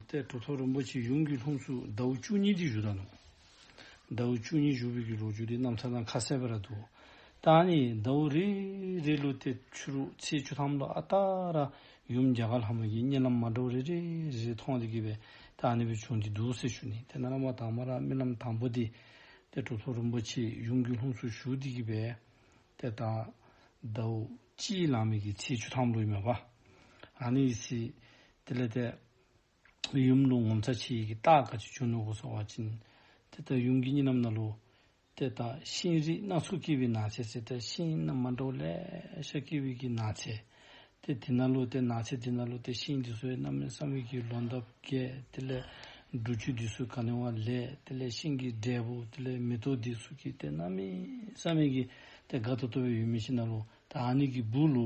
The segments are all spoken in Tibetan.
ཏེ་གྲོ་ཐོག་རིན་པོ་ཆེའི་གཞུང་གི་ལྷུམས་སུ་ཟླ་བོ་བཅུ་གཉིས་དུས་བཞུགས་དང། ཟླ་བོ་བཅུ་གཉིས་བཞུགས་པའི་ལོ་རྒྱུས་དེ་རྣམ་ཐར་དང་ཁ་གསལ་བར་དུ། ཏཱ་ནི་ཟླ་བོ་རེ་རེའི་ལོ་སྟེ་ཆུ་རུ་ཚེས་བཅུ་ཐམ་ལོ་ཨ་ཏཱ་ར་ཡུམ་རྒྱ་གར་ལྷ་མོ་ཡི་བསྙེན་ལམ་མ་འགྲོ་རེ་རེ་རེ་རེ་མཐོང་སྟེ་དགེ་བའི་རྟགས་ནི་བུ་ཆུང་དེ་འདུག་ཟེར་ཞུ་ནས་དེ་ན་བླ་མ་དྭངས་མ་ར་རྨི་ལམ་དང་པོ་དེ། ཏེ་གྲོ་ཐོག་རིན་པོ་ཆེའི་གཞུང་གི་ལྷུམས་སུ་བཞུགས་ཏེ་དགེ་བའི། ཏེ་ད་ཟླ་བོ་སྤྱིའི་ལམ་མིག་གི་ཚེས་བཅུ་ཐམ་ལོ་ཡི་མ་བ། ར་ནི་ཡི་ཚེས་དེ་ལས་འདས། ཡུམ་རླུང་ངོ་མཚར་ཆེ་ཡི་གེ་རྟགས་དཀར་ཆུ་ཆུང་ནུ་གོ་སོགས་བ་བཅིན། དེ་ལྟར་ཡུམ་གྱི་གཉིས་རྣམ་སྣ་ལུ། དེ་ལྟར་ཤིང་རིགས་སྣ་ཚོགས་སྐྱེས་པའི་ནགས་ཚལ་དེ་ལྟར་ཤིང་རྣམས་མ་འདྲ་བ་ལས་ཤར་སྐྱེས་བུ་གྱི་ནགས་ཚལ། དེ་དེ་སྣ་ལུ་སྟེ་ནགས་ཚལ་དེ་སྣ་ལུ་སྟེ་ཤིང་དེ་སོའི་རྣམ་སྨིན་བསམ་ཡས་ཀྱི་ལོ་འདབ་བརྒྱད་དེ་ལས། འབྲུ་ཆུ་དེ་སོའི་ག་ལིང་བ་ལས་དེ་ལས་ཤིང་གི་འབྲས་བུ་དེ་ལས་མེ་ཏོག་དེ་སོ་སྐྱེས་ཏེ་རྣམ་སྨིན་བསམ་ཡས་ཀྱི་དེ་དགའ་ཐོབ་ཐོབ་བའི་ཡུལ་མི་ཤིང་སྣ་ལུ། ད་ཨ་ནི་གི་བུ་ལུ།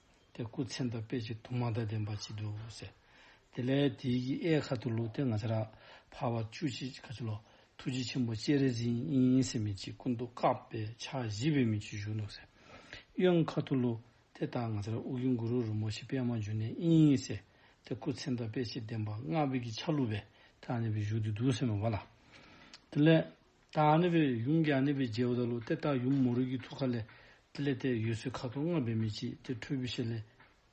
དེ་སྐུ་ཚེ་འདི་དཔེ་ཆེ་དུ་མ་དང་ལྡན་པར་བྱེད་དོ། དེ་ལས་དེའི་གཡས་ཁ་ཏུ་ལུ་ཏེ་ང་ཚ་ར་བྷ་བ་བཅུ་གཅིག་ག་ཅི་ལོ། ཐུགས་རྗེ་ཆེན་པོ་སྤྱན་རས་གཟིགས་དབྱིངས་སེམས་མེད་ཀྱི་སྐུ་མདོག་བཀག་པས་ཕྱག་བཞི་པའི་མིག་ཆུ་བཞུར་འདུག། གཡོན་ཁ་ཏུ་ལུ་ཏེ་ལྟག་ང་ཚ་ར་དབུགས་དབྱུང་གུ་རུ་རུ་མོ་ཤི་པད་མ་འཇུ་ནེ་དབྱིངས་ཡེ་སེ། དེ་སྐུ་ཚེ་འདི་དཔེ་ཆེ་ལྡན་པ་སྔགས་བིད་ཀྱི་ཆ་ལུགས་པས་ཐ་ནས་པའི་བཞུགས་དུས་དུ་སེམས་མེད་པ་ལ། དེ་ལས། དང་ནི་བའི་ཡུམ་ཀྱང་ནི་བའི་རྗེས་བ་ད་ལོ་སྟེ་རྟགས་ཡུམ་མོ་རིགས་ཀྱི་ཐུགས་ཁ་ལས། དེ་ལས་ཏེ་ཡོད་སྲིད་ཁ་དོག་ལྔ་བས་མི་ཕྱེད་དེ་ཁྲོལ་བུའི་ཞལ་ལས།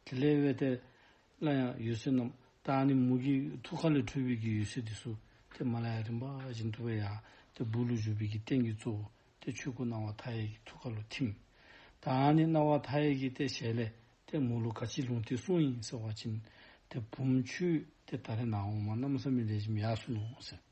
དེ་ལས་བས་ཏེ། སླར་ཡང་ཡོད་སྲིད་རྣམས་དང་ནི་མོ་ཀྱི་ཐུགས་ཁ་ལས་ཁྲོལ་བུའི་གྱི་ཡོད་སྲིད་དེ་སུ། དེ་མ་ལ་ཡ་རིམ་པ་བཞིན་དུ་བས་ཡང་ཏེ་བུ་ལུ་ཞུགས་པའི་གྱི་རྟེན་གྱི་གཙོ་བོ་སྟེ་ཆོས་སྐུ་སྣང་བ་མཐའ་ཡས་ཀྱི་ཐུགས་ཁ་ལོ་ཐིམ། དང་ནི་སྣང་བ་མཐའ་ཡས་ཀྱི་ཏེ་ཞལ་ལས། ཏེ་མོ་ལུ་ག་ཅིའི་ལུང་སྟེ་གསུང་ཡིན་གསལ་བ་བྱིན། དེ་བུམ་ཆུས་ཏེ་ད་རེ་ནའང་མ་རྣམས་བསམ་མི་ལས་བཞིན་ཡག་སུན་ནོ་ཟེར།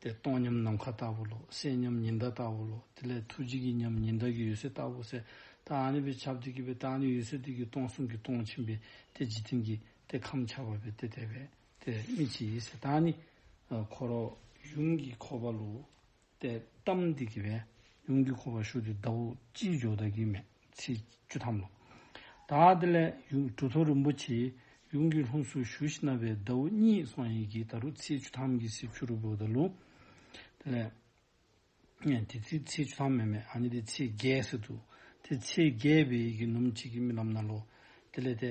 དེ་སྟོང་ཉམས་ནམ་མཁའ་ལྟ་བུ་ལོ། སྲས་ཉམས་ཉི་ཟླ་ལྟ་བུ་ལོ། དེ་ལས་ཐུགས་རྗེ་གི་ཉམས་ཉི་ཟླ་གི་ཡུལ་སྲས་ལྟ་བུ་སྲས་དང་ཨ་ནི་པའི་ཆབ་ཏུ་སྐྱེས་པའི་རྟགས་ནི་ཡུལ་སྲས་དུས་ཀྱི་སྟོང་གསུམ་གྱི་སྟོང་ཆེན་པས་ཏེ་འཇིག་རྟེན་གྱི་ཏེ་ཁམས་འཆར་བ་པའི་ཏེ་དེ་བས་ཏེ་སྨིན་བྱེད་ཡིད་སྲས་དང་ནི་འཁོར་ལོ། ཡུམ་གྱི་འཁོར་བ་ལོ། ཏེ་གཏམ་འདི་གི་བས་ཡུམ་གྱི་འཁོར་བ་ཞུགས་ཏེ་ཟླ་བོ་ཅི་འཇོག་བདག་གིས་མེད། ཚེས་བཅུ་ཐམ་ལོ། ད་ལྟ་ལས་ཡུལ་གྲུ་ཚོ་རིན་པོ་ཆེའི་ཡུམ་གྱི་ལྷུམས་སུ་ཞུ་བཞིན་གནས་པའི་ཟླ་བོ་གཉིས་སོང་ཡིན་གྱི་ད་རུང་ཚེས་བཅུ་ཐམ་གྱི་སྲིབ་ཆུ་རུལ་བོ་དང་ལུང། དེ་ལས། དེ་ཚེས་ཚེས་བཅུ་ཐམ་མེད་མེད་ཨ་ནི་དེ་ཚེས་བརྒྱད་ཟེར་འདུག་དེ་ཚེས་བརྒྱད་པའི་ཡི་གེ་ནུམ་གཅིག་གི་རྨི་ལམ་ན་ལོ། དེ་ལས་དེ་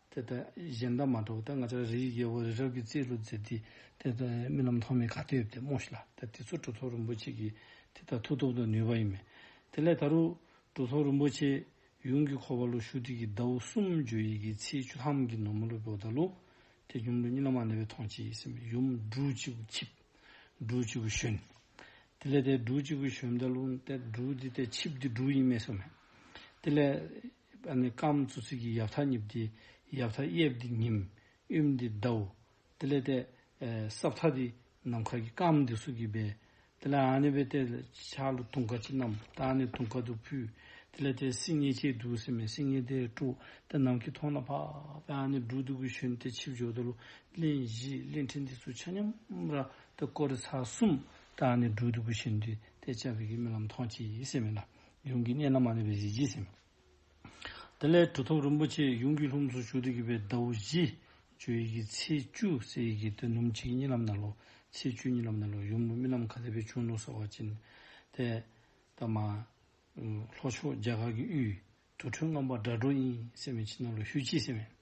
དེ་ལྟར་གཞན་དག་མ་གྲོགས་ཏེ་ང་ཅག་རིའི་རྒྱལ་པོ་རི་རབ་ཀྱི་རྩེའི་ལུས་མཛེས་དེ་དེ་ལྟར་རྨི་ལམ་ཐོགས་མེད་དགའ་སྟེར་ཏེ་སྨྲོས་ཤིག་ལ་ད་དེ་ཚོ་གྲུ་ཐོགས་རིན་པོ་ཆེ་གིས་དེ་ལྟར་ཐུགས་སྟོབས་དང་ནུས་པ་ཡིན་མོད། དེ་ལས་ད་རུང་གྲུ་ཐོགས་རིན་པོ་ཆེས་ཡུམ་གྱི་འཁོར་བ་ལུགས་ཞུགས་ཐིག་གི་ཟླ་བོ་སུམ་བརྗོད་ཡི་གེའི་ཚེས་བཅུ་ལྷམ་གྱི་ནོར་མ་ལུས་པའི་ཟླ་ལུགས་དེ་ཡུམ་ལུས་གཉིས་ལ་མ་ནི་བའི་མཐོང་བྱེད་ཡིད་སེམས་ཡུམ་འབྲུ་གཅིག་པུ་འཆིབ། འབྲུ་གཅིག་པུ་ཞོན། དེ་ལས་དེ་འབྲུ་གཅིག་པུ་ཞོན་ཟླ་ལུགས་འདི་འབྲུ་འདི་སྟེ་འཆིབ་འདི་འབྲུ་ཡིན་སྨྲས་སོ། དེ་ལས། པ་ནི་སྐམ་མཚོ་ཚིགས་ཀྱི་ཡབ་ཐག་ཉིབ་སྟེ། ཡབ་ཐག་གཡས་འདི་ཉིམ། དབྱིབས་འདི་ཟླའོ། དེ་ལས་ཏེ། སྲབ་ཐག་འདི་ནམ་མཁའ་གྱི་སྐམ་འདི་སུག་གིས་སྦས། དེ་ལ་ཨ་ནི་བས་ཏེ། ཆག་ལ་དུང་དཀར་ཅི་རྣམས་བཏགས་ནས་དུང་དཀར་དུ་ཕུལ། དེ་ལས་ཏེ་སིང་ངེ་ཆེའི་དུག་སེལ་མའི་སིང་ངེ་དེ་བཀྲུ། དེ་ནམ་མཁའི་མཐོངས་ན་འཕགས་པས་ཨ་ནི་འབྲུག་དུག་གི་ཞུན་ཏེ་ཆིབས་སྦྱོར་དུ། གླིང་བཞི་གླིང་ཕྲན་འདི་སུ་ཆ་སྙོམ། ར་ཏི་ཀོ་རི་ཚ་གསུམ་དུ་ཨ་ནི་འབྲུག་དུག་གི་ཞུན་ཏེ་དེ་བཅའ་བས་ཀྱི་རྨི་ལམ་མཐོང་ཅི་སེམས་མེད་ལ། ཡུམ་གྱི་གནས་ན་མ་ནི་བའི་གཟི་བརྗིད་སེམས། དེ་ལས་གྲུ་ཐོབ་རིན་པོ་ཆེ་ཡུམ་གྱི་ལྷུམས་སུ་ཞུགས་ཏེ་བརྒྱུད་པའི་ཟླ་བོ་བཞི། བཅུ་ཡི་གེ་ཚེས་བཅུ་གསལ་ཡི་གེ་དོན་སྣུམ་གཅིག་གཉིས་ལམ་ནལ་ལོ། ཚེས་བཅུ་གཉིས་ལམ་ནལ་ལོ་ཡུམ་ལུགས་རྨི་ལམ་མཁའ་ལྟེ་བའི་ཆུང་ལུགས་གསལ་བར་བྱིན། ཏེ། ཏཱ་མ། ལྷོ་ཕྱོགས་རྒྱ་གར་གྱི་དབུས། དུར་ཁྲོད་རྔམ་པ་སྒྲ་སྒྲོགས་གཉིས་སེམས་མེ་ཕྱི་ནང་ལོ་ཧུད་ཅིག་སེམས།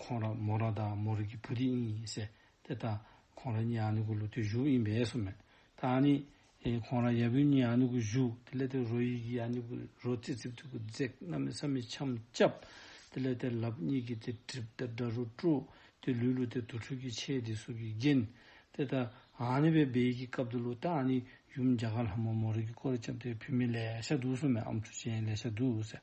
ཁོང་ར་མོ་ར་དང་མོ་རིགས་ཀྱི་བུ་དེ་གཉིས་ཡིན་ཟེར་དེ་ལྟ། ཁོང་ར་གཉིས་ཨ་ནུ་གུ་ལུ་དུས་བཞུགས་ཡིན་པས་སོ་མེད། ད་ནི། ཁོང་ར་ཡབ་ཡུམ་གཉིས་ཨ་ནུ་གུ་བཞུགས་དེ་ལས་དེར་རོ་ཡིད་ཀྱི་ཨ་ནུ་གུ་རོ་རྩེ་ཚིག་ཐུགས་ཀྱི་རྫེག་རྣམས་མི་ས་མི་འཆམ་སྐྱབས། དེ་ལས་དེར་ལབ་གཉིས་ཀྱི་དེ་གྲིབ་དེར་སྒྲ་རུ་སྤྲོ། དེ་ལུས་ལུ་དེ་དུར་ཁྲོད་ཀྱི་ཆས་དེ་སྲུབས་ཀྱི་རྒྱན། དེ་ལྟ། ཨ་ནི་བའི་སྦས་ཡིག་གི་སྐབས་དེ་ལུ་ད་ནི་ཡུམ་རྒྱ་གར་ལྷ་མོ་མོ་རིགས་ཀྱི་སྐོར་བྱབ་དེ་བུད་མེད་ལས་ཤ་དུག་སོ་མེད་ཨམ་ཆུ་ཅན་ལས་ཤ་དུག་ཟེར།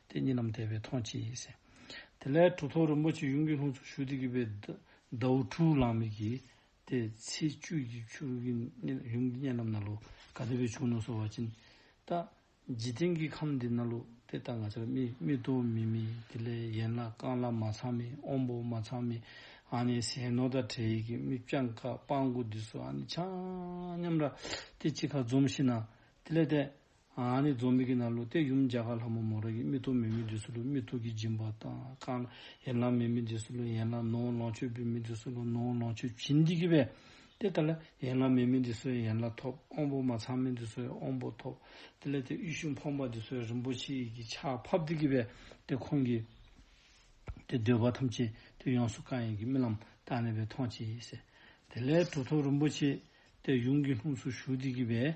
དེ་གཉིས་རྣམས་དད་པའི་མཐོང་བྱེད་ཡིན། དེ་ལས་གྲུ་ཐོག་རིན་པོ་ཆེ་གཡུང་དྲུང་ལྷུན་ཚོགས་ཞུ་བདེ་གུས་པའི་ཟླའུ་ཕྲུག་ལང་མིག་གིས་དེ་ཚེ་བཅུད་ཀྱི་ཆུར་གཡུང་གི་གཉེན་རྣམས་ན་ལོ་ག་དེ་བས་བྱུང་ན་སོ་བ་ཅི་ནི་ལྟ། འཇིག་རྟེན་གྱི་ཁམས་འདི་ན་ལོ་དེ་ལྟར་ང་ཅག་མི་ལྟོ་མི་མི་དེ་ལས་ཡན་ལག་རྐང་ལག་མ་ཚང་མི་དབང་པོ་མ་ཚང་མི་ཨ་ནི་ཟས་ནོར་དང་བྲལ་ཡིད་ཀྱི་མིག་བྱང་ཁ་སྤང་དགུ་འདི་སོ་ཨ་ནི་ཆང་སྙམ་ར་དེ་ཅི་ཁ་འཛོམས་ཤི་ན་དེ་ལས་དད། ཨཱ་ནི་རྫོང་མི་དགེ་ན་ལུ་སྟེ་ཡུམ་འཇའ་གར་ལྷ་མོ་མོ་ར་ཡི་རྨི་ཐུགས་མེད་མི་འདི་སུ་ལུ་རྨི་ཐུགས་ཀྱི་སྦྱིན་པ་དང་བསྐང། ཡན་ལག་མེད་མི་འདི་སུ་ལུ་ཡན་ལག་ནོའོ་ལོངས་སྤྱོད་འབུལ་མི་འདི་སུ་ལུ་ནོའོ་ལོངས་སྤྱོད་བྱིན་འདི་གི་བས། དེ་ལྟར་ལ། ཡན་ལག་མེད་མི་འདི་སུ་ཡན་ལག་ཐོབ་དབང་པོ་མ་ཚང་མི་འདི་སུ་ཡང་དབང་པོ་ཐོབ། དེ་ལས་དེ་དབུས་གཞུང་འཕངས་པ་འདི་སུ་ཡང་རིན་པོ་ཆེ་ཡི་གི་ཆ་ཕབ་འདི་གི་བས། དེ་ཁོང་གི། དེ་འདོད་པ་ཐམས་ཅད་དེ་ཡོངས་སུ་བསྐང་ཡི་གི་རྨི་ལམ་དག་ནས་བས་མཐོང་བྱེད་ཡིན། དེ་ལས་དྲུག་ཐོབ་རིན་པོ་ཆེ་དེ་ཡུམ་གྱི་ལྷུམས་སུ་ཞུགས་འདི་གི་བས།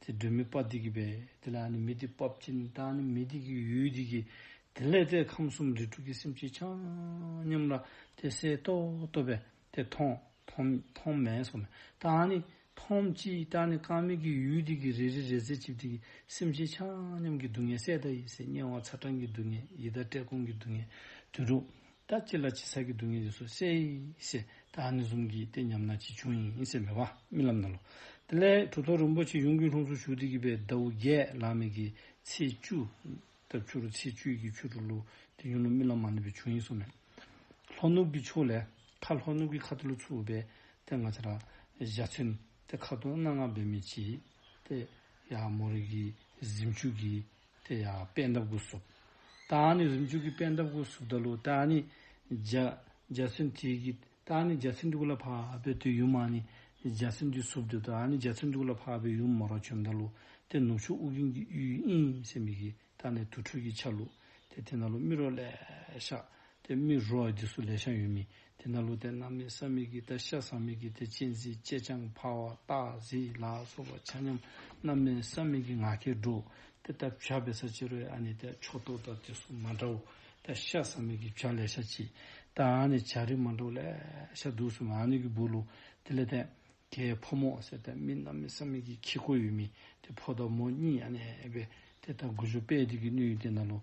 དེ་སྒྲོལ་མའི་དཔའ་སྡིག་གིས་པས་དེ་ལ་ནི་མི་སྡིག་པ་བྱིན་ནི་དང་ནི་མི་སྡིག་གི་ཡུལ་སྡིག་གི། དེ་ལས་དེས་ཁམས་གསུམ་རིགས་དྲུག་གི་སེམས་ཅན་འཆང་སྙམ་ལ་དེ་གསལ་རྟོགས་བསྟོད་པས་དེ་མཐོང། མེད་སོགས་མེད་དང་ནི་མཐོང་ཅི་དང་ནི་རྐང་མིག་གི་ཡུལ་སྡིག་གི་རེ་རེ་རེ་རྩེ་གཅིག་སྡིག་གི་སེམས་ཅན་འཆང་སྙམ་གྱི་སྡུག་བསྔལ་གསལ་བརྡ་ཡིས་དམྱལ་བ་ཚ་གྲང་གི་སྡུག་བསྔལ་ཡི་དྭ་བྲལ་ཀུན་གྱི་སྡུག་བསྔལ་དོན་གྲུབ། ད་ཅི་ལ་ཅི་ཟ་གི་འདུག་ངས་ཡོད་སོ་སེ། ཞེས་ད་ཨ་ནེ་གསུམ་གྱིས་བལྟས་སྙམ་ན་ཅི་བྱུང་ཡིན་ཞེས་མོས་པ་རྨི་ལམ་ན་ལོ། དེ་ལས་གྲུ་ཐོག་རིན་པོ་ཆེ་གཡུང་དྲུང་ལྷུང་སོ་བཞུགས་སྟེ་གྱིས་པའི་ཟླ་བོ་བརྒྱད་ལག་མིག་གི་ཚེས་བཅུ། ལྟབ་ཆུ་རུ་ཚེས་བཅུའི་གྱི་ཆུ་དྲུག་ལུ་དེ་གཡུང་ལོ་རྨི་ལམ་མ་ནུབ་པའི་བྱུང་ཡིན་སོ་མོད། ལྷོ་ནུབ་ཀྱི་ཕྱོགས་ལས་ཁ་ལྷོ་ནུབ་ཀྱི་ཁ་ཏུ་ལུ་ཚུ་འུ་བས་ཏེ་ང་ཆ་ར་བཞག་ཚུན་དེ་ཁ་ཏུ་སྣ་ང་བས་མི་བྱེད་དེ། ཡ་མོ་རིགས་ཀྱི་གཟིམ་ཆུ་གིས་དེ་ཡང་པད་འདབ་དགུ་གཟུགས། རྟགས་ནི་རིམ་བཅུ་གི་པད་འདབ་དགུ་གཟུགས་བདག་ལུས་རྟགས་ནི་འཇའ། འཇའ་ཚོན་དྲུག་གི་རྟགས་ནི་འཇའ་ཚོན་དྲུག་ལ་འཕགས་པའི་དུས་ཡུན་མ་ནི་འཇའ་ཚོན་དུས་གཟུགས་བདུད་རྟགས་ནི་འཇའ་ཚོན་དྲུག་ལ་འཕགས་པའི་ཡུམ་མོ་རོ་བྱོན་བདག་ལུས་ཏེ་ནུབ་ཕྱོགས་དབུགས་རྒྱུན་གྱི་གཡུའི་དབྱིངས་སེ་མིག་གི་རྟགས་ནི་དུར་ཁྲོད་ཀྱི་ཆ་ལུགས་ཏེ་དེ་ན་ལུགས་རྨི་རོ་ལས་ཤག་སྟེ་རྨི་རོ་འདི་སུ་ལས་ཤག་ཡུལ་མི་དེ་ན་ལུས་དེ་རྣམ་སྨིན་སམ་མིག་གི་དེ་ཤ་ཟ་མིག་གི་དེ་ཅེས་འཛིན་ཅེས་ཅང་བྷ་བ་ཏྀ་ཟི་ལ་སོགས་པ་ཆ་མཉམ་རྣམ་སྨིན་སམ་མིག་གི་ང་ཁའི་འགྲོ་དེ་ལྟར་བྱ་བའི་ས་བཅད་རོའི་ཨ་ནི་དེ་ཕྱོགས་གཏོགས་དང་དེ་སོགས་མ་འདྲའོ། དེ་ཤ་ཟ་མིག་གི་བྱ་ལས་ཤ་གཅིག་དང་ཨ་ནི་བྱ་རིགས་མ་འདྲའོ་ལས་ཤ་བདུག་སུམ་ཨ་ནི་གི་བུ་ལུ་དེ་ལས་དེ་ཀའི་ཕོ་མོ་ཟེར་དེ་སྨིན་རྣམ་སྨིན་སམ་མིག་གི་ཁྱི་ཁོ་ཡུལ་མིན་དེ་ཕོ་དང་མོ་གཉིས་ཨ་ནི་བས་དེ་ལྟར་དགུ་བཅུ་པས་དེ་ཀའི་སྣོད་ཡུལ་དེ་ན་ལུས་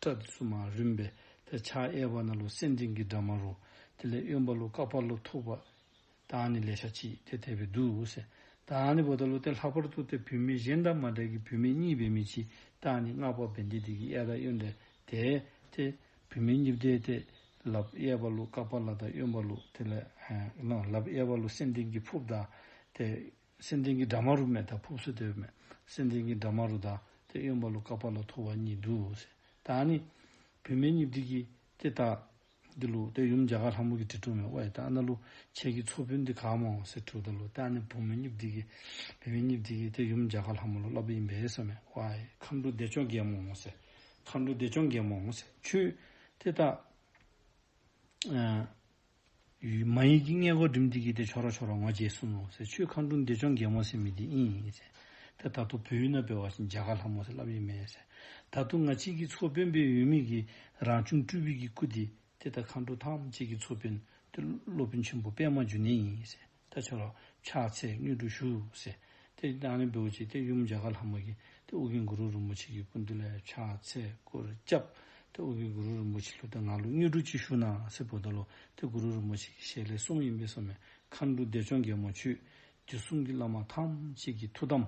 སྐྲ་བཙུམ་མ་རུམ་པའི་ལྷའི་ཕྱག་གཡས་པ་ན་ལུས་སེམས་ཅན་གྱི་དགྲ་མ་རུ། དེ་ལས་གཡོན་པ་ལུས་དཀར་པགས་ལོ་ཐུག་པ། དང་ནི་ལས་ཤ་གཅིག་དེ་ཐལ་བའི་རྡུལ་འོད་ཟེར། དང་ནི་བོ་ད་ལུ་སྟེ་ལྷག་པར་དུ་སྟེ་བུད་མེད་གཞན་དང་མ་བྲལ་གྱི་བུད་མེད་གཉིས་པའི་མི་གཅིག་དང་ནི་སྔགས་པ་བན་དེ་དེ་གི་གཡས་དང་གཡོན་དེ་དེ་སྟེ། བུད་མེད་གཉིས་བརྡལ་ཏེ། ལབ་གཡས་པ་ལུས་དཀར་པགས་ལ་དང་གཡོན་པ་ལུས་དེ་ལས། ལབ་གཡས་པ་ལུས་སེམས་ཅན་གྱི་ཕུབ་དང་དེ། སེམས་ལྡན་གྱི་དགྲ་མ་རུ་མེད་དང་ཕུབ་སོ་དེ་བས་མེད། སེམས་ལྡན་གྱི་དགྲ་མ་རུ་དང་དེ་གཡོན་པ་ལོ་ཀ་པ་ལོ་ཐོ་བ་གཉིས་འདུག་ཟེར། དང་ནི། བུད་མེད་གཉིས་འདུག་གི། དེ་དག། འདི་ལོ་དེ་ཡུམ་རྒྱ་གར་ལྷ་མོ་གི་དྲི་བྲོ་མའི་དབའ་ཡི་དང་ན་ལོ། ཁྱེད་ཀྱི་ཚོ་བུད་འདི་ག་མ་འོང་ཟེར་དྲོ་ད་ལོ་དང་ནི་བུ་མོ་གཉིས་འདུག་གི། བུད་མེད་གཉིས་འདུག་གི་དེ་ཡུམ་རྒྱ་གར་ལྷ་མོ་ལོ་ཀླ་པ་ཡིན་པས་ས་མའི་དབའ་ཡི། མཁའ་འགྲོ་བདེ་མཆོག་རྒྱལ་མོ་འོང་ཟེར། མཁའ་འགྲོ་བདེ་མཆོག་རྒྱལ་མོ་འོང་ཟེར་ཁྱོད། དེ་དག། མ་ཡིན་གྱི་མངལ་སྒོ་འགྲིམས་འདི་གྱིས་དེ་ཆོག་ར་ཆོག་ར་ངོ་རྗེས་གསུམ་མོ་ཟེར་ཆུའི་ཁང་སྒྲུང་འདི་ཅོང་རྒན་མོ་སེ་མི་འདི་ཨིན་ཨིན་ཟེར། དེ་ད་དུང་བོད་ཡུལ་ན་སྤེལ་བ་བཞིན་རྒྱ་གར་ལྷ་མོ་ཟེར་ལབ་ཡས་མེད་ཟེར། ད་དུང་ང་ཕྱིས་ཀྱི་མཚོ་དཔོན་པའི་ཡུལ་མིག་གིས་རང་བྱུང་སྤྲུལ་བུ་ཀྱི་སྐུ་འདི་དེ་ད་ཁང་སྒྲུང་ཐམས་ཅད་ཀྱི་མཚོ་དཔོན་དེ་སློབ་དཔོན་ཆེན་པོ་པད་མ་འཇུ་ནེ་ཡིན་ཟེར། ད་ཆོག་ལ། ཕྱག་འཚལ་མངོན་སྤྲུལ་བཞུགས། ཟེར། དེ་ནས་བསྟན་པའི་འོད་ཀྱིས་དེ་ཡུམ་འཇའ་ག་ལྷ་མོ་ཡིན། དེ་དབུ་གིང་གུ་རུ་རིན་པོ་ཆེ་ཀྱི་སྐུ་མདུན་ལས་ཕྱག་འཚལ་སྐུར་བསྐྱབས། དེ་དབུ་གིང་གུ་རུ་རིན་པོ་ཆེ་ལྷུ་ཐེ་ང་ལུགས་མངོན་སྤྲུལ་གྱིས་བཞུགས་ན་སེར་པོ་ཟླ་ལོ། དེ་གུ་རུ་རིན་པོ་ཆེ་ཀྱི་ཞལ་ལས་གསུམ་ཡིན་པས་སོ་མའི་མཁའ་འགྲོ་བདེ་མཆོག་རྒྱལ་མོ་ཆོས་ཀྱི་གསུང་གི་བླ་མ་ཐམས་ཅད་ཀྱི་ཐུགས་དམ།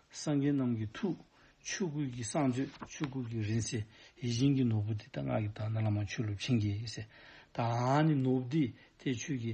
སངས་རྒྱས་རྣམས་ཀྱི་ཐུགས། ཆོས་སྐུ་གི་གསང་མཛོད་ཆོས་སྐུ་གི་རིང་བསྲེལ་ཡིད་བཞིན་གྱི་ནོར་བུ་འདི་ལྟར་སྔགས་ཀྱི་དག་སྣང་བླ་མ་ཆོས་ལུགས་བྱིན་གྱིས་བརླབས། ད་ནི་ནོར་བུ་འདི་དེ་ཆོས་ཀྱི།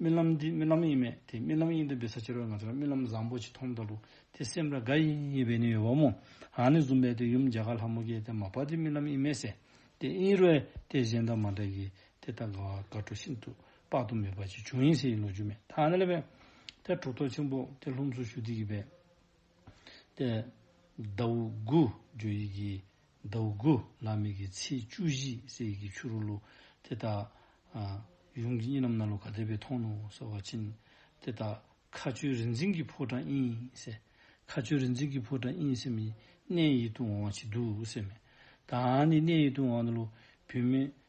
རྨི་ལམ་འདི་རྨི་ལམ་ཡིན་མེད་དེ་རྨི་ལམ་ཡིན་དུ་འབད་ས་ཕྱི་རོལ་ང་ཚོ་ལ་རྨི་ལམ་བཟང་པོ་ཅིག་མཐོང་འདུག་ལུག་དེ་སེམས་ར་དགའ་ཡིན་ཡིན་བས་ནི་ཡོད་བ་མོ་རང་ནས་བཟུང་བས་དེ་ཡུམ་རྒྱ་གར་ལྷ་མོ་གས་དེ་མ་པ་དེ་རྨི་ལམ་ཡིན་མེད་ཟེར་དེ་དབྱིན་རོལ་དེ་གཞན་དང་མ་འདྲ་གིས་དེ་ལྟ་དགའ་བ་དགའ་སྤྲོ་ཤིན་ཏུ་དཔག་ཏུ་མེད་པ་ཅིག་བྱུང་ཡིན་ཟེར་ཡིན་ལོ་རྒྱུས་མེད་ཐ་ན་ལེ་བས་དེ་གྲོགས་ཐོག་ཆེན་པོ་དེ་ལྷུམས་སུ་ཞུ་དུས་ཀྱི་བས། ཏེ། ཟླ་བོ་དགུ། རྒྱུ་ཡི་གེ། ཟླ་བོ་དགུ། ལ་མི་གི་ཚེས་བཅུ་བཞི་གསལ་ཡི་གེ་ཆུ་རུ་ལུ། དེ་དག། ཡུམ་གྱི་གཉིས་རྣམས་སྣ་ལོ་ག་དེ་པའི་མཐོང་ནོ་གསོལ་བ་བྱིན། དེ་དག། མཁའ་སྤྱོད་རིག་འཛིན་གྱི་ཕོ་བྲང་དབྱིངས་གསལ། མཁའ་སྤྱོད་རིག་འཛིན་གྱི་ཕོ་བྲང་དབྱིངས་གསལ་མི། གནས་ཡིད་དུ་འོང་བ་ཅི་འདུག་སེམས་མེད། ད་ནི་གནས་ཡིད་དུ་འོང་བ་ནི་ལོ། བུད་མེད།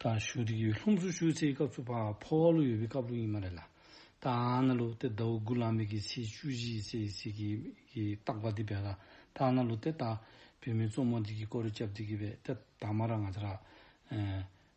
དང་ཞུ་རིག་ཡོད་ལྷུམས་སུ་ཞུ་ཚེ་སྐབས་སུ་བག་ཕོ་བ་ལུག་ཡོད་པའི་སྐབས་ལུག་ཡིན་མ་རེད་ལ། དང་ན་ལུག་དེ་ཟླ་བ་དགུ་ལངས་མེད་ཀྱི་ཚེས་བཅུ་བཞི་ཚེས་གཅིག་གི་གི་རྟག་པ་འདི་བས་ལ་དང་ན་ལུག་དེ་ད་བོད་མི་གཙོ་མོ་འདི་གི་ཀོ་རི་སྐྱབས་འདི་གི་བས་དེ་དང་མ་ར་ང་ཚ་ར།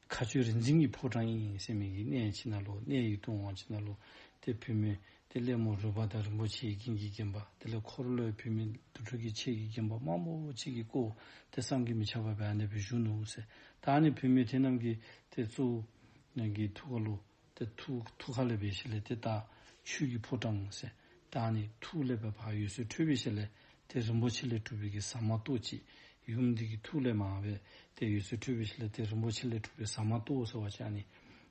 ཁ་ཆོས་རིག་འཛིན་གྱི་ཕོ་བྲང་ཡིན་ཡིན་སེམས་མེད་ཀྱི་གནས་ཕྱི་ན་ལུག་གནས་ཡིག་ཐུང་འོང་ཕྱི་ན་ལུག་དེ་བོད་མི་དེ་སླད་མོ་རུ་བ་དང་རིན་པོ་ཆེའི་རྒྱན་གྱིས་བརྒྱན་པ་དེ་ལས་འཁོར་ལོའི་བུད་མེད་དུར་ཁྲོད་ཀྱི་ཆས་ཀྱིས་བརྒྱན་པ་དམར་མོ་གཅིག་གིས་བསྐོར་བ་དེ་བསམ་གྱིས་མི་ཁྱབ་པ་བས་ཨ་ནེ་བུ་བཞུགས་ནོ་འོད་ཟེར་དང་ཨ་ནེ་བུད་མེད་དེ་རྣམས་ཀྱིས་དེ་བཙུགས། ཀྱི་ཐུགས་ཀ་ལུ། དེ་ཐུགས་ཐུགས་ཁ་ལེ་བའི་ཞལ་ལས་དེ་བལྟ། ཆོས་ཀྱི་ཕོ་བྲང་འོད་ཟེར་དང་ཨ་ནེ་ཐུགས་ལེགས་པའི་བག་ཡོད་སྲོད་ཁྲོས་པའི་ཞལ་ལས་དེ་རིན་པོ་ཆེ་ལས་གྲུབ་པའི་གི་ཟ་མ་ཏོག་ཅིག་ཡུམ་འདི་ཀྱི་ཐུགས་ལས་མ་བས་དེ་ཡོད་སྲོད་ཁྲོས་པའི་ཞལ་ལས་དེ་རིན་པོ་ཆེ་ལས་གྲུབ་པའི་ཟ་མ་ཏོག་ཟེར་བ་ཅིག་ཨ་ནེ་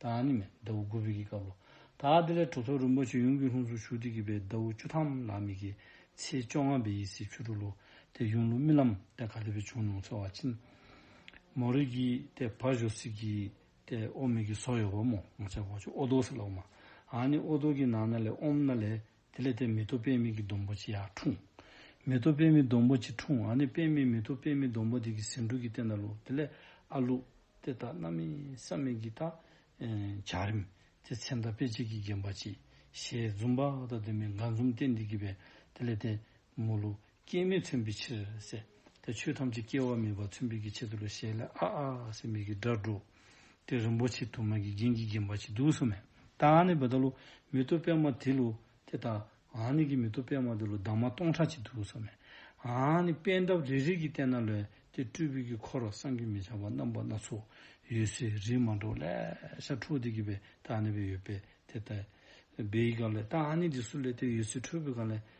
དང་ནི་མེད། ཟླ་བོ་དགུ་བྷིག་གི་སྐབས་ལོ། ད་དེ་ལས་གྲོ་ཚོགས་རིན་པོ་ཆེ་ཡུམ་གྱི་ལྷུན་གཟུགས་ཆུ་ཐིགས་ཀྱི་བའི་ཟླ་བོ་བཅུ་ཐམ་ལ་མིག་གི་ཚེས་བཅོ་ལྔ་བའི་ཡི་སི་ཆུ་དྲུག་ལོ། དེ་ཡུམ་ལུགས་རྨི་ལམ་སྟེ་ག་ལེ་བའི་བྱུང་མྱོང་ཚོལ་བ་ཕྱིན། མོ་རིགས་ཀྱི་སྟེ་བྷ་ཇོ་སི་ཀི་སྟེ་ཨོ་མིག་གི་སོ་ཡོ་བ་མོ་ངོ་ཚེ་བ་བཅུ་ཨོ་དོ་སི་ལ་ཨོ་མ། ཨ་ནི་ཨོ་དོ་ཀི་ནང་ན་ལེ་ཨོམ་ན་ལེ་དེ་ལས་དེ་མེ་ཏོག་པད་མིག་གི་སྡོང་པོ་ཅི་ཡང་འཁྲུངས། མེ་ཏོག་པད་མིག་སྡོང་པོ་ཅི་འཁྲུངས་ཨ་ནི་པད་མའི་མེ་ཏོག་པད་མིག་སྡོང་པོ་དེ་གི་ཟེའུ་འབྲུ་གི་སྟེང་ན་ལུག་དེ་ལས་ཨ་ལུག། དེ་ལྟ་ན་མི་སྲ་མི་གི་ད། བྱ་རིམ། དེ་ཚེ་མདའ་དཔེ་གཅིག་གིས་བརྒྱན་པ་ཅི། ཞེས་འཛུམ་བག་དང་ལྡན་པའི་དགའ་འཛུམ་སྟེ་འདི་གི་བས་དེ་ལས་དེ། མོ་ལུག། སྐྱེ་མེད་མཚོན་པའི་ཕྱིར། དེ་ཆོས་ཐམས་ཅད་སྐྱེ་བ་མེད་པར་མཚོན་པའི་ཀྱི་ཆེད་དུ་ལ་ཞེས་ལ་ཨ་ཨ་སེམས་མེད་ཀྱི་སྒྲ་སྒྲོག། དེ་རིན་པོ་ཆེ་དུ་མ་གིས་རྒྱན་གྱིས་བརྒྱན་པ་ཅིག་འདུག་བསམ་མོད། ད་ཨ་ནི་བི་ད་ལོ། མི་ཏོ་པད་མ་དེ་ལོ། དེ་ད་ཨ་ནི་ཀྱི་མི་ཏོ་པད་མ་དེ་ལོ་དྭངས་མ་སྟོང་ཕྲག་ཅིག་འདུག་བསམ་མོད། ཨ་ནི་པད་འདབ་རེ་རེ་གིས་བལྟས་ན་ལོས་དེ་སྤྲུལ་པའི་ཀྱི་འཁོར་བསམ་གྱིས་མི་ཁྱབ་པ་རྣམ་པ་སྣ་ཚོགས་ཡོད་སའི་རིས་མ་འགྲོ་ལས་ཤར་འཕྲོ་དེ་གི་བས་ད་ཨ་ནི་བས་ཡོད་པས་དེ་ད་བའི་ག་ལས་ད་ཨ་ནི་དེ་སུ་ལས་དེ་ཡོད་སའི་འཕྲོས་བས་ག་ལས་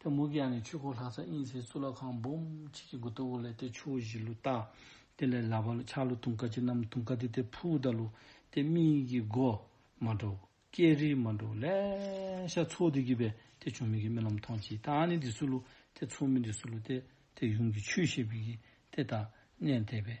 དེ་མུ་གེ་ནི་ཆོས་འཁོར་ལྷ་ས་དབྱིངས་གསལ་གཙུག་ལག་ཁང་འབུམ་གཅིག་གི་སྒོ་ལྟ་བུ་ལས་དེ་ཆུ་བོ་བཞི་ལུ་རྟ། དེ་ལས་ལ་བ་ལུ་ཆག་ལུ་དུང་དཀར་ཅི་རྣམས་དུང་དཀར་དེ་དེ་ཕུག་རྟ་ལུ་དེ་མིག་གི་སྒོ། མ་འགྲོ། སྐྱེས་རིས་མ་འགྲོ། ལས་ཤ་ཚོགས་དེ་གྱིས་པས་དེ་ཆུང་མིག་གི་རྨི་ལམ་མཐོང་གཅིག་ད་ནི་འདི་སུ་ལུ་དེ་ཚོགས་མི་འདི་སུ་ལུ་དེ་དེ་ཡུམ་གྱི་ཆུས་ཤེས་པས་ཀྱིས་དེ་དང་གནས་འདས་པས་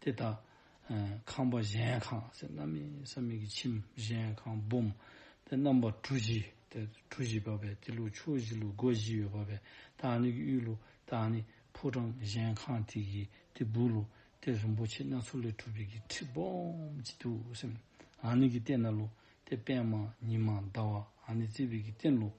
དེ་དག། ཁང་པ་གཞན་ཁང་ཟེར་རྣམ་སྨིན་བསམ་སྨིན་གྱི་ཁྱིམ་གཞན་ཁང་སྦོམ། དེ་རྣམ་པ་གྲུ་བཞི་དེ་གྲུ་བཞི་པ་བས་དེ་ལུགས་ཕྱོགས་བཞི་ལུགས་སྒོ་བཞི་ཡོད་པ་བས་དག་ནི་གི་དབུས་ལུགས་དག་ནི་ཕོ་བྲང་གཞན་ཁང་དེ་གི་དེ་སྦུག་ལུགས་དེ་རིན་པོ་ཆེ་སྣ་ཚོགས་ལས་གྲུབ་པའི་གི་ཁྲི་སྦོམ་གྱི་དུ་སེམས། དག་ནི་གི་སྟན་སྣ་ལུགས་དེ་པདྨ་ཉི་མ་ཟླ་བ་དག་ནི་བརྩེགས་པའི་གི་སྟན་ལུགས།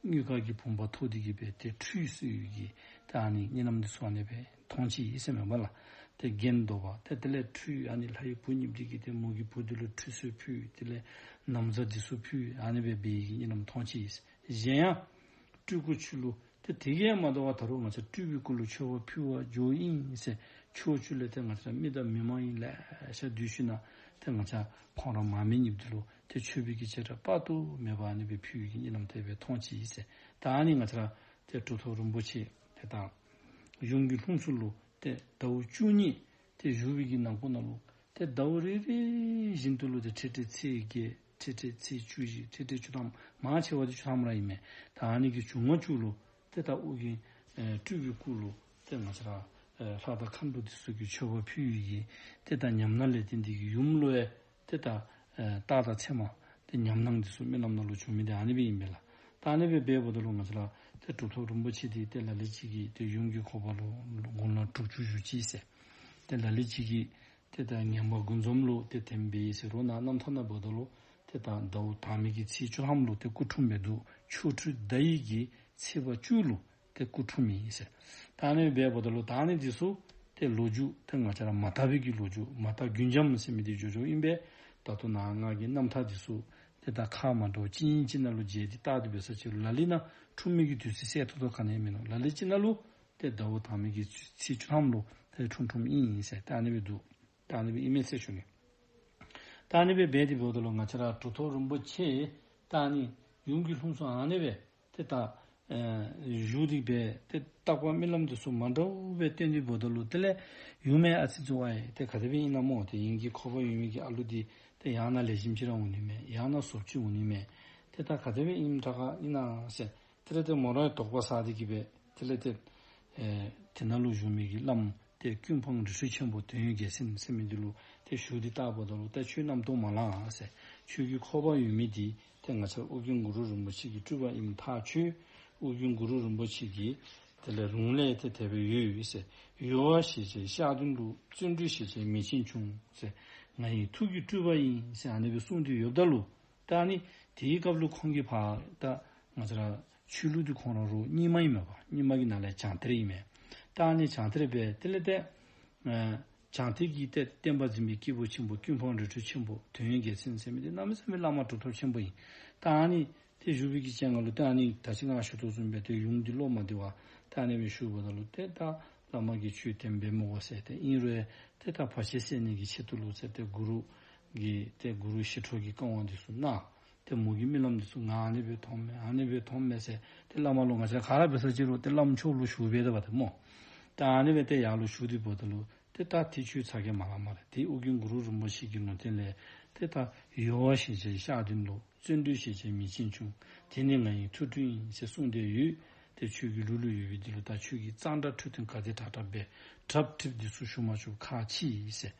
སྙུད་དཀར་གྱི་བུམ་པ་ཐོག་ཏུ་གྱུར་པས་དེ་ཁྲུས་གསོལ་ཡུལ་གྱི་དེ་ཨ་ནི་གཉིས་ལམ་དུ་སོང་ནས་པའི་མཐོང་བྱེད་ཡིད་སེམས་མེད་པ་ལ་དེ་བརྒྱན་བདོག་པ་དེ་དེ་ལས་ཁྲུས་ཨ་ནི་ལྷ་ཡི་བུ་ཉིད་བྲིས་ཀྱི་དེ་མོ་གི་བུ་དེ་ལུས་ཁྲུས་གསོལ་ཕུལ་དེ་ལས་ནམ་མཚར་འདི་སུ་ཕུལ་ཨ་ནི་བའི་བའི་ཡིད་ཀྱི་གཉིས་ལམ་མཐོང་བྱེད་ཡིད་གཞན་ཡང། སྤྲུལ་སྐུ་ཆུ་ལུ་དེ་དེ་ཀའི་མ་དོ་བ་ད་རུང་ང་ཚ་སྤྲུལ་པའི་སྐུ་ལུས་ཆོས་བ་ཕུལ་བ་ཇོ་དབྱིངས་སེ་ཕྱོགས་ཆུ་ལས་དེ་ང་ཚ་རྨི་ལྟ་མི་མ་ཡིན་ལས་ཤ་དུས་ཤུ་ན་དེ་ང་ཚ་ཁོང་ར་མ་མེ་ཉིབ་དེ་ལུ་དེ་ཆོས་བརྒྱུད་ཀྱི་བྱེ་བྲག་དཔག་ཏུ་མེད་པ་ནི་བོད་བརྒྱུད་ཀྱི་གཉིས་ལམ་དད་པའི་མཐོང་བྱེད་ཡིན། ད་ནི་ང་ཚོར་དེ་སྒྲོ་ཐོག་རིན་པོ་ཆེ་དེ་དང། གཞུང་གི་ལྷུམས་སུ་ལུ་སྟེ་ཟླ་བོ་བཅུ་གཉིས་དེ་གཞུང་བོད་ཀྱི་ནང་ཁོ་ན་ལུ་སྟེ་ཟླ་བོ་རེ་རེ་བཞིན་དུ་ལུ་སྟེ་ཁྲི་ཁྲི་ཚེས་བརྒྱད་ཁྲི་ཁྲི་ཚེས་བཅུ་བཞི་ཁྲི་ཁྲི་བཅུ་ཐམ་མང་ཆེ་བ་དེ་བཅུ་ཐམ་རང་ཡིན་མོད་ད་ནི་གི་བྱུང་ང་བཅུ་ལུ་སྟེ་ད་དབུགས་ཀྱི་སྤྲུལ་བའི་སྐུ་ལུ་སྟེ་ང་ཚོར་ལྷ་དང་ཁམས་དུ་སྟེ་གཟུགས་ཀྱི་ཆོས་བར་ཕུལ་ཡི་ཡིན་ཏེ་ད་ཉམས་ན་ལས་དེ་འདི་གི་ཡུམ་ལུ་ཨེ་དེ་ལྟར། རྟགས་དང་མཚན་མ། དེ་ཉམས་སྣང་འདི་སོགས་རྨི་ལམ་ནང་ལུགས་འབྱུང་མིན་དེ་ཨ་ནི་པའི་ཡིན་མིན་ལ། ད་ཨ་ནི་པའི་སྦས་པོ་དེ་ལུགས་ང་ཚོ་ལ། དེ་གྲུབ་ཐོབ་རིན་པོ་ཆེ་དེའི་རྟེན་ལ་ལི་གཅིག་གིས་དེ་གཡུང་དྲུང་ཁོག་པ་ལོ་དགུང་ལོ་དྲུག་ཅུ་བཞུགས་ཀྱིས་ཟེར། དེ་ལ་ལི་གཅིག་གིས། དེ་ལྟར་ངན་པ་དགུ་འཛོམས་ལུགས་དེ་དེ་འབའ་ཡིས་ཟེར་རོ་ན་རྣམ་ཐར་ན་བོ་ད་ལོ། དེ་དག་མདའ་བོ་དག་མིག་གི་ཚིལ་བཅུ་ལྷམ་ལུགས་དེ་སྐུ་འཁྲུངས་པའི་དུག་ཆོ་འཕྲུལ་མདའ་ཡིག་གི་ཚིལ་བ་བཅུ་ལུགས་དེ་སྐུ་འཁྲུངས་མིན་ཟེར། ད་ནི་སྦས་པོ་ད་ལོ་ད་ནི་དེ་སུ། དེ་ལོ་རྒྱུས་དེ་ང་ཅག་ར་མ་ཐ་བུད་ཀྱི་ལོ་རྒྱུས་མ་ཐག་རྒྱུན་འབྱམས་སེམས་མི་དེ་ཇོ་ཇོ་དབྱིན་པས་ད་དུ་ནང་སྔགས་ཀྱི་རྣམ་ཐར་དེ་སུ། དེ་ད་ཁ་མ་འགྲོ་ཅི་ཡིན་ཅི་ན་ལུ་རྗེས་དེ་རྟག་དེ་བོད་ས་ཆེ་རུ་ལ་ལི་ན་འཁྲུངས་མིན་གྱི་དུས་ཚིགས་གསལ་ཐུག་ཐུག་ག་ནས་མིན་ནོ་ལ་ལི་ཅི་ན་ལུ། དེ་ད་བོ་དང་མིན་གྱི་དུས་ཚིགས་བཅུ་ཐམ་ལོ་ལྷའི་འཁྲུངས་འཁྲུངས་མིན་ཡིན་ཟེར་ད་ནི་བས་འདུག་ད་ནི་བས་ཨི་མེད་ཚེ་ཞུ་ནི། ད་ནི་བས་སྦས་དེ་བོད་ད་ལོ་ང་ཅག་ར་གྲུ་ཐོག་རིན་པོ་ཆེ། ད་ནི། ཡུམ་གྱི་ལྷུམས་སུ་ཨང་ནི་བས། དེ་ལྟ། གཞུག་རིག་པས་དེ་རྟག་པ་རྨི་ལམ་དུ་སོ་མ་འདྲ་བོ་པའི་རྟེན་འདུས་བོ་ད་ལུ་དེ་ལས་ཡུལ་མེད་ཨ་ཚི་ཙི་ཝ་ཡེ་དེ་ག་དེ་བས་ཨི་ན་མོ་དེ་ཡིན་གྱི་ཁོ་བོ་ཡུལ་མེད་ཀྱི་ཨ་ལུ་དེ་དེ་ཡང་ན་ལས་བཞིན་ཕྱི་ར་འུ་ནུས་མེད་ཡང་ན་ཟོབ་ཆུས་འུ་ནུས་མེད་དེ་ལྟ་ག་དེ་བས་ཨིན་འདྲ་ག་ཨི་ན་སེ་དེ་ལས་དེ་མོ་ར་དོག་པ་ས་དེ་གི་བས་དེ་ལས་དེ། དེ་ན་ལུ་གཞུག་མེད་ཀྱི་ཨི་ལམ་དེ་ཀུན་འཕང་རི་ཧྲུལ་ཆེན་པོ་དོན་ཡོད་རྒྱལ་སེམས་སེམས་མེད་འདི་ལུ་དེ་གཞུག་དེ་རྟག་བོ་ད་ལུ་ད་ཆུས་རྣམ་རྟོག་མ་ལ་ཨ་སེ་ཆུས་གི་ཁོ་བོ་ཡུལ་མེད་དེ་དེ་ང་ཚར་དབུ་རྒྱུན་གུ་རུ་རིན་པོ་ཆེ་གྱི་སྤྲུལ་པ་ཨིམ་ཐག་ཆོད། དབུ་རྒྱུན་གུ་རུ་རིན་པོ་ཆེ་གྱིས་དེ་ལས་རུང་ལས་དེ་དད་པའི་ཡུལ་ཡོད་ཟེར། ཡུལ་བ་ཞེས་བྱའི་ཤག་ཏུ་འདུག་བརྩོན་འགྲུས་ཞེས་བྱའི་མི་ཆེན་ཆུང་ཟེར། ང་ཡི་ཐུགས་ཀྱི་སྤྲུལ་པ་ཡིན་ཟེར་ཨ་ནེ་པའི་གསུང་དུས་ཡོབ་ཏཱ་ལུ་ཏཱ་ནི་དེའི་སྐབས་ལུགས་ཁོང་གི་ཕ་ཏཱ་ང་ཚ་ར། ཆོས་ལུགས་ཀྱི་ཁོང་རང་རུ་རྙིང་མ་ཡིན་མོད་ཀྱང་རྙིང་མ་གྱི་ནང་ལས་བྱང་ཐེར་ཡིན་མོད། རྟགས་ནི་བྱང་ཐེར་པས་དེ་ལས་འདས། བྱང་ཐེར་གྱིས་བལྟས་ཏེ་བསྟན་པ་འཛིན་པའི་སྐྱེས་བུ་ཆེན་པོ་ཀུན་འཕང་རི་ཁྲོད་ཆེན་པོ་དོན་ཡོད་རྒྱལ་མཚན་ཚད་མེད་དེ་རྣམ་གསུམ་པའི་བླ་མ་གྲུབ་ཐོབ་ཆེན་པོ་ཡིན། རྟགས་ནི། དེ་བཞུགས་པའི་གི་སྤྱན་སྔར་ལུས་རྟགས་ནི་ད་ཕྱིན་སྔགས་ཞུ་ཐོག་བཙུན་པའི་དོལ་ཡུམ་གྱི་སློབ་མ་འདི་བ་ཏཱ་ནེ་བས་ཞུས་པ་དང་ལུས་རྟགས་དག་བླ་མ་གྱི་ཆོས་བསྟན་པའི་མུ་བ་བསལ་ཏེ་དབྱིན་རོལ་ཏེ་དག་བར་ཆད་སེལ་ནས་ཀྱི་ཆེད་དུ་ལུས་རྩལ་ཏེ་གུ་རུ། ཀྱི་ཏེ་གུ་རུ་ཞི་ཁྲོ་གྱི་བསྐང་བ་འདི་གསུངས། དེ་མོ་གི་རྨི་ལམ་དུ་སུ་ང་ཨ་ནེ་བོད་མཐོང་མེད་ཨ་ནེ་བོད་མཐོང་མེད་ཟེར་དེ་བླ་མ་ལོ་ང་ཅག་ག་ར་བེ་སར་ཅི་རོ་དེ་བླ་མ་མཆོག་ལོ་ཞུགས་བེ་ད་བ་དེ་མོ་དེ་ཨ་ནེ་བེ་ཏེ་ཡག་ལོ་ཞུགས་དེ་བོ་ད་ལོ་དེ་ད་དེ་ཆུའི་ཚ་གེ་མ་ལ་མ་རེ་དེ་ཨུ་གིང་གུ་རུ་རིན་པོ་ཆེ་གི་ལུང་བསྟན་ལས་དེ་ད་ཡོ་བ་ཞེས་བྱའི་ཤག་དེ་འདུག་བརྩོན་འགྲུས་ཞེས་བྱའི་མི་ཆེན་ཆུང་དེ་ནི་ང་ཡིན་ཐུ་ཐུ་ཡིན་ཞེས་གསུངས་དེ་ཡུལ་དེ་ཆུ་གི་ལུ་ལུ་ཡོད་བེ་དེ་ལོ་ད་ཆུ་གི་གཙང་སྦྲ་ཁྲུ་ཐུན་ག་དེ་དྲག་དྲག་བེ་གྲབ་གྲིབ་དེ་སུ་ཞུགས་མ་ཆུབ་ཁ་ཕྱིས་ཟེར།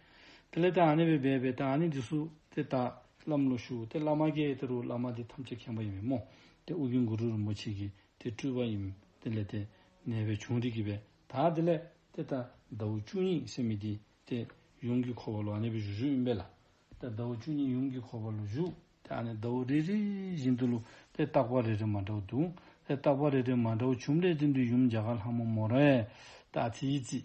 དེ་ལས་ཏཱ་ནི་བས་སྦས་པས་ཏཱ་ནི་འདི་སུ་སྟེ་ཏཱ། བླ་མ་ལོ་ཞུ་དེ་བླ་མ་ཀྱེ་དེ་རུ་བླ་མ་དེ་ཐམས་ཅད་མཁྱེན་པ་ཡིན་པས་མོ། དེ་ཨུ་གུ་གུ་རུ་རིན་པོ་ཆེ་ཀྱེ་དེ་སྤྲུལ་པ་ཡིན། དེ་ལས་ཏེ། ནས་བས་བྱུང་རིགས་ཀྱི་བས་ཏཱ་དེ་ལས་ཏེ་ཏཱ། ཟླ་བོ་བཅུ་གཉིས་སེམས་མི་དེ་ཏེ། ཡུམ་གྱི་འཁོར་བ་ལོ་ཨ་ནི་བས་བཞུགས་བཞུགས་ཡིན་པས་ལ། ཏཱ་ཟླ་བོ་བཅུ་གཉིས་ཡུམ་གྱི་འཁོར་བ་ལོ་བཞུགས་དེ་ཨ་ནི་ཟླ་བོ་རེ་རེ་བཞིན་དུ་ལུ་ཏེ་ཏག་པ་རེ་རེ་མ་འདྲ་བོ་འདུག་ཏེ་ཏག་པ་རེ་རེ་མ་འདྲ་བོ་བྱུང་བས་དེ་འདུས་ཡུམ་འཇའ་གར་ལྷ་མོ་མོ་རེ། ཏཱ་དྷི་ཡི་རྩིས།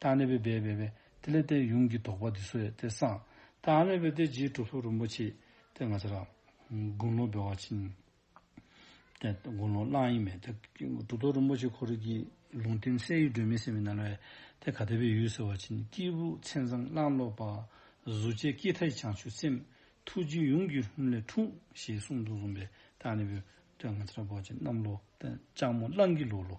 ཏཱ་ནི་བི་བའི་བས་པས་ཏི་ལས་ཏའི་ཡུམ་གྱིས་བཟློག་པ་འདི་སོ་ཡ་ཏི་སང་ཏཱ་མི་བི་ཏི་རྗེའི་གྲུབ་ཐོབ་རིན་པོ་ཆེ་ཏི་ང་ཚ་ར། དགུང་ལོ་བི་བ་ཅན། ཏི་དགུང་ལོ་གླང་ཡིན་མེད་ཏི་གྲུབ་ཐོབ་རིན་པོ་ཆེ་ཁོ་རིགས་ཀྱི་ལུང་བསྟན་གསལ་ཡུལ་སྒྲོན་མེ་སེམས་མའི་རྣལ་བས་ཏི་ག་ཏི་བའི་ཡུལ་ཟེར་བ་ཅན་སྐྱེས་བུ་མཚན་བཟང་གླང་ལོ་པ། གཟུགས་བྱད་སྐྱེས་མཐའ་ཡི་བྱང་ཆུབ་སེམས། ཐུགས་རྗེའི་ཡུམ་གྱི་ལྷུམས་ལས་འཁྲུངས། ཞེས་གསུངས་འདུག་བཟུང་བས་ཏཱ་ནི་བི་ཏི་ང་ཚ་ར་བ་ཅན་གནམ་ལོ་ཏི་ལྕགས་མོ་གླང་གི་ལུག་ལོ་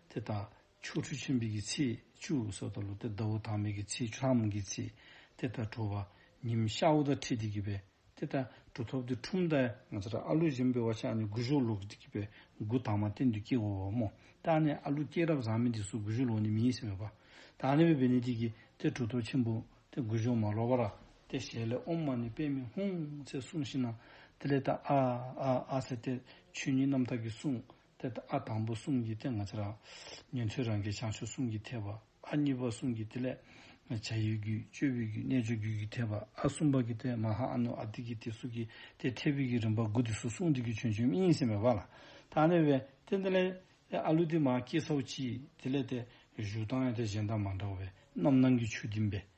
ཏི་ཏཱ་ཆོ་འཕྲུལ་ཆེན་པོའི་ཀྱི་ཚེས་བཅུ་སོགས་དང་ལོ་སྟེ་ཟླ་བོ་དྭངས་མའི་ཀྱི་ཚེས་བཅུ་ལྷག་མོན་གྱི་ཚེས་དེ་ལྟར་དྲོ་བ། ཉིན་ཤར་ཨུ་ད་ཁྲིད་དེ་གྱི་བས་དེ་ལྟར་དྲོ་ཐོབ་ཏེ་ཁྲུམས་ད། ང་ཚ་ར་ཨ་ལུ་གཞན་པའི་བ་ཆ་ནི་དགུ་ཞོ་ལོག་དེ་གྱི་བས་དགུ་དྭངས་མ་སྟེ་འདུས་སྐྱེ་བོ་བ་མོ་ད་ནི་ཨ་ལུ་སྐྱེས་རབས་བཟང་མི་འདི་སུ་དགུ་ཞོ་ལོག་ནི་མི་ཡིན་སེམས་བ་པ། ད་ནི་བས་བས་ནི་དེ་གྱི་དེ་དྲོ་ཐོབ་ཆེན་པོ་དེ་དགུ་ཞོ་མ་ལོག་པ་ར་དེ་ཞལ་ལས་ཨོམ་མ་ནི་པད་མི་ཧུང་ཚེ་གསུངས་ཤིང་ན་དེ་ལས་ད་ཨ་ཨ་ཨ་ཚེ་དེ་ཆོས་ཉིད་རྣམ་དག་གི་གསུངས་ཐད་ལྟ་ཨ་དང་པོ་གསུམ་གྱི་སྟེང་ང་ཚེ་རང། ཉན་ཐོས་རང་གི་བྱང་ཆུབ་གསུམ་གྱི་ཐེག་པ་ཨ་གཉིས་པ་གསུམ་གྱི་ཐིག་ལེ། བྱ་ཡུལ་རྒྱུད་སྤྱོད་བུའི་རྒྱུད་རྣལ་འབྱོར་རྒྱུད་ཀྱི་ཐེག་པ་ཨ་གསུམ་པ་ཀྱི་ཐད་མ་ཧཱ་ཨ་ནུ་ཨ་ཏི་ཀི་ཏི་གཟུགས་ཀྱི་ཐད་ཐེག་བུའི་རྒྱུད་རིམ་པ་དགུ་སྟེ་སོ་གསུམ་ཏུ་རྒྱུད་ཆོས་འབྱུང་གཉིས་སེམས་པའི་བར་ལ་དག་གནས་པའི་སྟེ་ཐིག་ལེ། ཨ་ལུ་ཏི་མ་ཀི་སོགས་ཀྱི་ཐིག་ལེ་སྟེ། བཞུགས་སྟངས་ཡང་དེ་གཞན་དང་མ་འདྲ་བས་རྣམ་སྣང་གི་ཆོས་བསྟིམ་པའི་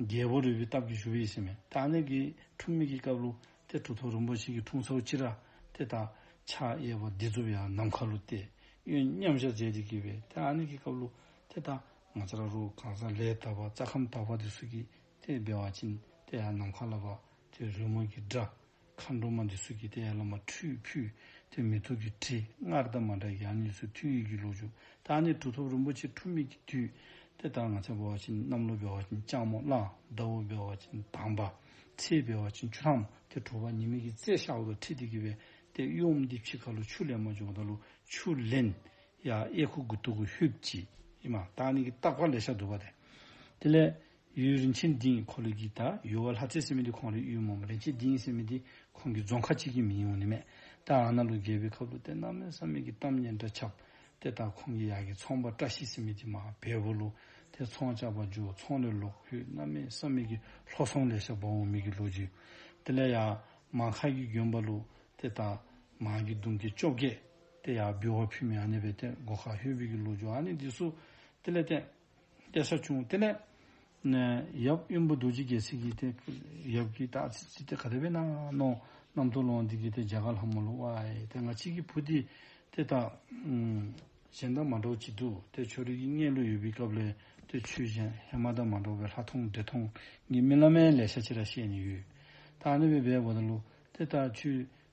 རྒྱལ་པོ་རི་བོའི་སྟབས་ཀྱིས་བཞུགས་པའི་ཡེ་ཤེས་མེ། ད་ནི་གི་འཁྲུངས་མིག་གི་སྐབས་ལོ། དེ་གྲུ་ཐོག་རིན་པོ་ཆེ་གི་འཁྲུངས་ཚོགས་སྤྱི་ར། དེ་དག་ཕྱག་གཡས་པ་སྡིགས་མཛུབ་ཡང་ནམ་མཁའ་ལོ། ཏེ་གཡོན་མཉམ་གཞག་མཛད་དེ་བགྱིས་པས་ད་ནི་གི་སྐབས་ལོ། དེ་དག་ང་ཙཀ་ར་རུ་གང་ཟག་ལས་དག་པ་རྩ་ཁམས་དག་པ་དེ་སུ་གི། དེ་སྦལ་བ་བྱིན་དེ་ཡང་ནམ་མཁའ་ལ་བབ། དེ་རོལ་མོ་གི་སྒྲ། མཁའ་འགྲོ་མ་འདི་སུ་སྐྱེས་ཏེ་ཡར་ལ་མ་ཁྲུས་ཕུད་དེ་མི་ཐུགས་ཀྱི་དྲི་ངར་རྟ་མ་འདྲ་ཡང་གཉིས་སུ་ཐུགས་ཡིད་ཀྱི་ལུགས་འཇུག་བདག་ནི་གྲུབ་ཐོབ་རིན་པོ་ཆེ་འཁྲུངས་མེད་ཀྱི་དུས་དེ་ལྟར་ང་ཚེ་འབེལ་བ་ཅན་གནམ་ལོ་འབེལ་བ་ཅན་སྤྱང་མོ་གླང་རྡ་འུར་འབེལ་བ་ཅན་དམ་པ་ཚེ་འབེལ་བ་ཅན་ཆུ་དྭངས་མོ་དེ་གྲུབ་པ་ཉི་མིག་གི་རྩེ་ཤ་འོག་ཏུ་ཁྲིད་དེ་བགྱི་བས་ཏེ་གཡོམ་འདི་ཕྱི་ཁ་ལུ་ཆུ་ལས་མ་བྱུང་བ་དང་ལུ་ཆུ་ལེན། ཡ་ཨེ་ཁུ་གུ་ཏུ་གུ་ཧུད་ཀྱི་ཨི་མ་བདག་ནི་གི་རྟག་པར་ལས་ཤ་འདུལ་བ་སྟེ། དེ་ལས། གཡུའི་རིན་ཆེན་འདི་ཡི་འཁོར་ལོས་བགྱིས་ད། ཡུལ་བ་ལྷ་རྩེའི་སྲིད་མི་འདི་ཁོང་རེད་གཡུའི་མོ་མོ་རིན་ཆེན་འདི་ཡིན་སྲིད་མི་འདི་ཁོང་གི་རྫོང་ཁ་གཅིག་གི་མི་ཡིན་འོ་ནི་མེད་ད་ཨ་ན་ལུ་རྒྱལ་པོའི་ཁབ་ལུ་དེ་ནག་མོའི་ས་མིག་གི་གཏམ་སྙན་འདྲ་ཁྱབ། དེ་ད་ཁོང་གི་ཡག་གི་ཚོང་པ་བཀྲ་ཤིས་སྲིད་མི་འདི་མ་བེ་བོ་ལུ་དེ་ཚོང་བཅག་པ་འཇུ་ཚོང་ལས་ལོག་ཁུས་གནའ་མའི་ས་མིག་གི་ལྷོ་ཚོང་ལས་ཤ་བོ་བོ་མིག་གི་ལོ་རྒྱུ་དེ་ལས་ཡག་མ་ཁ་གི་རྒྱུན་པ་ལུ་དེ་ད་མ་གི་དུང་གི་ཅོ་གས་དེ་ཡག་བུ་བ་ཕུ་མི་ཨ་ནེ་བེ་དེ་མགོ་ཁ་ཧུས་བུ་གི་ལོ་རྒྱུ་ཨ་ནེ་འདི་སུ་དེ་ལས་དེ། གཏད་ས་བྱུང། དེ་ནས། ཡབ་གཡོན་པོ་རྡོ་རྗེ་རྒྱལ་སྲིད་ཀྱིས་དེ། ཡབ་ཀྱིས་བདག་ཚིག་ཅི་སྟེ་ག་དེ་བས་ན། ནམ་ཐུགས་ལོངས་འདི་ཀྱིས་དེ་འཇའ་ག་ལྷ་མོ་ལོ། དེ་ང་གཅིག་གི་བུ་དེ། དེ་དག། གཞན་དག་མ་འགྲོགས་ཅི་འདུག་དེ་ཆོ་རིགས་ཀྱི་གནས་ལུགས་ཡོད་པའི་སྐབས་ལས་དེ་ཆོས་གཞན་ཧེ་མ་ད་མ་འགྲོགས་པའི་ལྷ་མཐོང་འདྲེ་མཐོང་གཉིས་སྨིན་བླ་མའི་ལས་བྱ་ཕྱིར་ར་བཤད་ནས་ཡོད། ད་ནི་བས་པས་བོ་ད་ལོ། དེ་དག་ཆོས།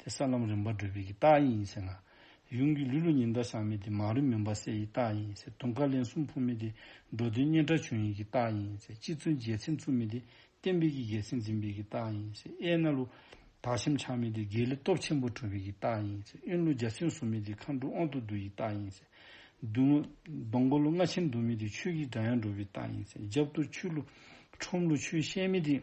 དེ་ས་ལམ་རིམ་པར་བགྲོད་པའི་གྱི་རྟགས་ཡིན་ཡིན་ཟེར་ན། ཡུམ་གྱི་ལུས་ལུས་ཉི་ཟླ་ཞག་མེད་དེ་མ་རུ་མི་འབར་གསལ་ཡི་རྟགས་ཡིན་ཟེར་དུང་དཀར་ལན་གསུམ་འཕུར་མེད་དེ་འགྲོ་དོན་གཉེན་ཕྲ་བྱུང་ཡིན་གྱི་རྟགས་ཡིན་ཟེར་གཅིག་ཚུན་རྒྱལ་ཚིག་མཚུངས་མེད་དེ་བསྟན་འཕེལ་གྱི་རྒྱལ་ཚིག་འཛིན་པའི་གྱི་རྟགས་ཡིན་ཟེར་ཨེ་རྣ་ལུ། དག་ཞིམ་ཆགས་མེད་དེ་དགེ་ལེགས་སྟོབས་ཆེན་པོ་གྲུབ་པའི་གྱི་རྟགས་ཡིན་ཟེར་གཡོན་ལུ་འཇའ་ཚོན་ཟུམ་མེད་དེ་མཁའ་འགྲོ་དབང་དུ་བསྡུ་ཡི་རྟགས་ཡིན་ཟེར། བདུད་མོ། སྡོང་མགོ་ལུ་རྔ་ཆེན་འདུག་མེད་དེ་ཆོས་ཀྱི་སྒྲ་དབྱངས་སྒྲོག་པའི་རྟགས་ཡིན་ཟེར་རྒྱབ་གཏོར་ཆུ་ལུ། ཁྲོམ་ལུ་ཆུ་ཤེལ་མེད་དེ།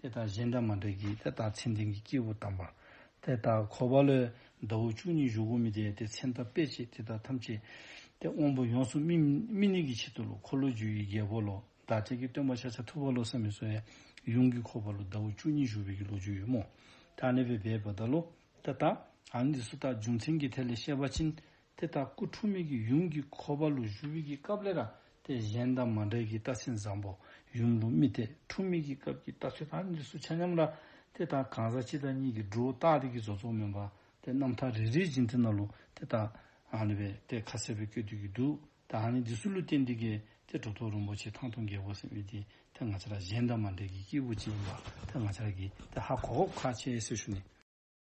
དེ་དག་གཞན་འདྲ་མ་འདྲ་གྱིས་དེ་དག་མཚན་ལྡན་གྱི་སྐྱེས་བུ་དམ་པ། དེ་དག་འཁོར་བ་ལས་ཟླ་བོ་བཅུ་གཉིས་བཞུགས་གོ་མི་དེས་དེ་མཚན་ཐ་དཔེ་བྱེད་དེ་དག་ཐམས་ཅད་དེ་དབང་པོ་ཡོངས་སུ་སྨིན་ནས་ཀྱི་ཕྱིར་དུ་ལོ་འཁོར་ལོ་རྒྱུས་ཀྱི་རྒྱལ་པོ་ལོ་ཟླ་ཕྲལ་གྱི་སྟོན་པ་ཤ་ཆ་ཐུབ་པ་ལོ་བསམ་མི་གསོལ་ཡུམ་གྱི་འཁོར་བ་ལོ་ཟླ་བོ་བཅུ་གཉིས་བཞུགས་པའི་གྱི་ལོ་རྒྱུས་ཡོད་མོད། ཐ་ནད་པའི་བས་པ་ད་ལོ། དེ་དག། ཨ་ནི་དེ་སུ་དག་རྒྱུ་མཚན་གྱི་ཐད་ལས་བཤད་པ་ཕྱིན་དེ་ལྟར་སྐུ་འཁྲུངས་མེད་ཀྱི་ཡུམ་གྱི་འཁོར་བ་ལུགས་བཞུགས་ཀྱི་སྐབས་ལས་ར་སྟེ་གཞན་དང་མ་འདྲེས་ཀྱི་རྟགས་ཆེན་བཟང་པོ་ཡུམ་ལུགས་རྨི་ལྟས་འཁྲུངས་མེད་ཀྱི་སྐབས་ཀྱི་རྟགས་ཆོས་དང་གཉིས་སུ་ཆ་མཉམ་ལ། དེ་དང་གང་ཟག་སྤྱི་དང་གཉིས་ཀྱི་འབྲུ་རྟགས་སྟེ་ཀྱི་བཟོ་ཚོགས་མིན་པ་སྟེ་རྣམ་ཐར་རེ་རེའི་རྗེས་མཐུན་ན་ལུགས་དེ་དག་རེ་བས་ཏེ་ཁ་གསལ་བས་བསྐྱོད་སྡུད་ཀྱི་འདུག་ད་ཧ་ནི་འདི་སུ་ལུས་རྟེན་འདི་གས་ཏེ་གྲོ་ཐོག་རིན་པོ་ཆེ་ཐང་སྟོང་རྒྱལ་པོ་སེམས་དབྱེ་དེ་ང་ཅག་ལ་གཞན་དང་མ་འདྲེས་ཀྱི་སྐྱེས་བུ་གཅིག་ཡིན་པ་དེ་ང་ཅག་གིས་དེ་ཧ་གོ་ཁ་ཆེ་ཡེ་སེ་ཞུ་ནི།